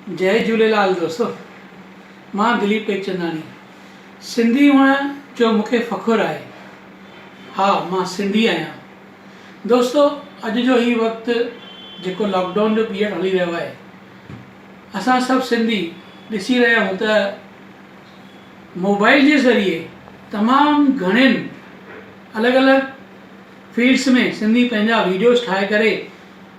جئي جهوليلال دوستو مان دليپ ٽيڪچنداڻي سنڌي هئڻ جو مون کي فخر آهي ها مان سنڌي آهيان دوستو اڄ جو هي وقت جيڪو لاڪ ڊائون جو پيريڊ هلي رهيو آهي اسان سڀ سنڌي ڏسي رهيا آهيون ته موبائل جي ذريعي تمام گهڻين الڳ الڳ فيلڊس ۾ سنڌي پنهنجا ويڊيوز ٺاهي ڪري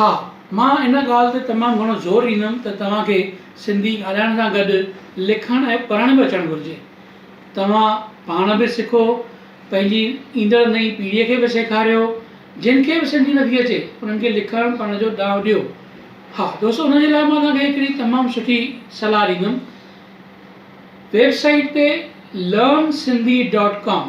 ها، مان ان ڳالهه تي تمام گهڻو زور ڏيندم ته توهان کي سنڌي ڳالهائڻ سان گڏ لکڻ ۽ پڙهڻ به اچڻ گهرجي. توهان پاڻ به سکو، پنهنجي ايندڙ نئين پيڙهيء کي به سيکاريو. جن کي به سنڌي نٿي اچي، انهن کي لکڻ پڙهڻ جو ڏانء ڏيو. ها دوستو، ان جي لاء مان توهان کي هڪڙي تمام سٺي صلاح ڏيندم. ويب سائيٽ تي Learn Sindhi dot com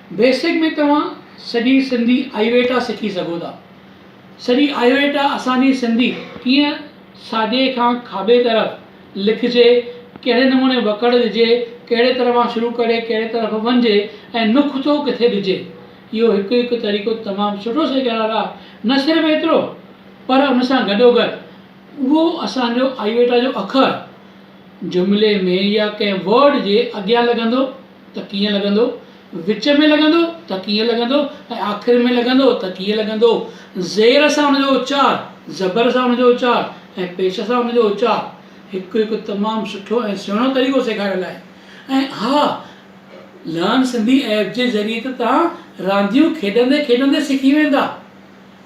basic ۾ توهان سڄي سنڌي آئيويٽا سکي سگهو ٿا. سڄي آئيويٽا اسان جي سنڌي ڪيئن ساڄي کان کاٻي طرف لکجي، ڪهڙي نموني وڪڙ ڏجي، ڪهڙي طرفان شروع ڪري ڪهڙي طرف وڃجي ۽ نقطو ڪٿي ڏجي اهو هڪ هڪ طريقو تمام سٺو سيکاريل آهي. نه صرف ايترو پر ان سان گڏوگڏ اهو اسان جو آئيويٽا جو اکر جملي ۾ يا ڪنهن ورڊ جي اڳيان لڳندو، ته ڪيئن لڳندو، وچ ۾ لڳندو ته ڪيئن لڳندو ۽ آخر ۾ لڳندو ته ڪيئن لڳندو. زير سان ان جو اچار، زبر سان ان جو اچار ۽ پيش سان ان جو اچار هڪ هڪ تمام سٺو ۽ سهڻو طريقو سيکاريل آهي ۽ اها لرن سنڌي ايپ جي ذريعي ته توهان رانديون کيڏندي کيڏندي سکي ويندا.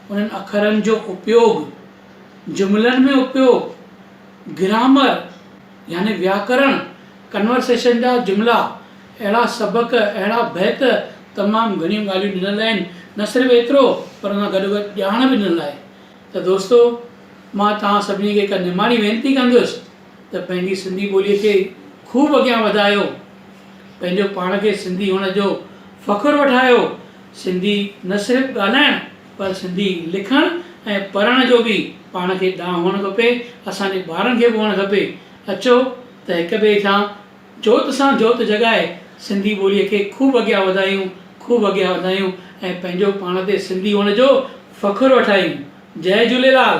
انهن اکرن جو اپيوڳ، جملن ۾ اپيوڳ، گرامر، يعني وياڪرڻ Conversation جا جملا، اهڙا سبق، اهڙا بيت تمام گهڻيون ڳالهيون ڏنل آهن، نه صرف ايترو پر ان گڏو گڏ ڄاڻ به ڏنل آهي ته دوستو مان توهان سڀني کي هڪ نماڻي وينتي ڪندس ته پنهنجي سنڌي ٻولي کي خوب اڳيان وڌايو پنهنجو پاڻ کي سنڌي هئڻ جو فخر وٺايو سنڌي نه صرف ڳالهائڻ پر سنڌي لکڻ ۽ پڙهڻ جو به پاڻ کي ڏانء هئڻ کپي، اسان جي ٻارن کي به هئڻ کپي، اچو ته هڪ ٻئي سان جوت سان جوت جڳائي سنڌي ٻوليء کي خوب اڳيان وڌايون، خوب اڳيان وڌايون ۽ پنهنجو پاڻ تي سنڌي هئڻ جو فخر وٺايون. جئي جهوليلال.